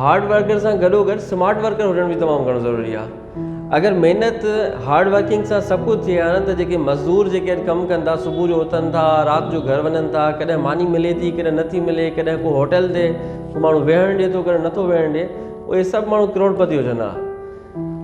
Hard worker سان گڏوگڏ smart worker هجڻ به تمام گهڻو ضروري آهي اگر محنت هارڊ ورڪنگ سان سڀ ڪجهه ٿئي ها نه ته جيڪي مزدور جيڪي اڄ ڪم ڪن ٿا صبح جو اٿن ٿا رات جو گهر وڃن ٿا ڪڏهن ماني ملي ٿي ڪڏهن نٿي ملي ڪڏهن ڪو هوٽل تي ڪو ماڻهو ويهڻ ڏي ٿو ڪڏهن نٿو ويهڻ ڏي اهي سڀ ماڻهو ڪروڙپتي هجن ها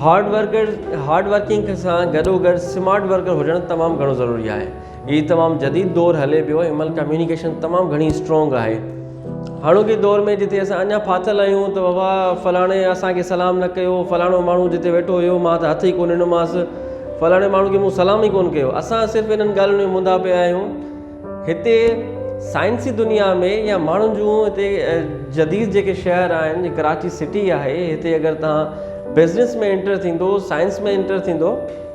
هارڊ ورڪر هارڊ ورڪنگ سان گڏوگڏ سمارٽ ورڪر هجڻ تمام گهڻو ضروري آهي هي تمام جديد دور هلي پيو ان مهل ڪميونيڪيشن تمام گهڻي اسٽرانگ آهي هاڻوڪي دور ۾ جتي اسان اڃا ڦاٿل آهيون ته بابا فلاڻي اسانکي سلام نه ڪيو فلاڻو ماڻهو جتي ويٺو هيو مان ته هٿ ئي ڪونه ڏنومانس فلاڻي ماڻهو کي مون سلام ئي ڪونه ڪيو اسان صرف انهن ڳالهين ۾ مندا پيا آهيون هتي سائنسي دنيا ۾ يا ماڻهن جون هتي جديد جيڪي شهر آهن جي ڪراچي سٽي آهي هتي اگر تان بزنس ۾ انٽر ٿيندو سائنس ۾ انٽر ٿيندو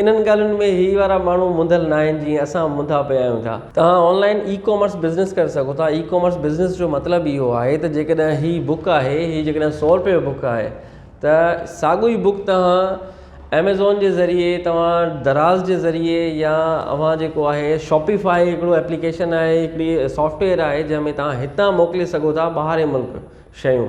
انهن ڳالهين ۾ هي وارا ماڻهو منڌل ناهن جيئن اسان منڌا پيا آهيون ٿا. توهان online e commerce business ڪري سگهو ٿا. اي ڪامرس بزنس جو مطلب اهو آهي ته جيڪڏهن هي بوڪ آهي هي جيڪڏهن سؤ روپئي جو بوڪ آهي ته ساڳو ئي بوڪ توهان ايميزون جي ذريعي توهان دراز جي ذريعي يا اوهان جيڪو آهي شاپي فاء هڪڙو ايپليڪيشن آهي هڪڙي سافٽويئر آهي جنهن ۾ توهان هتان موڪلي سگهو ٿا ٻاهرين ملڪ شيون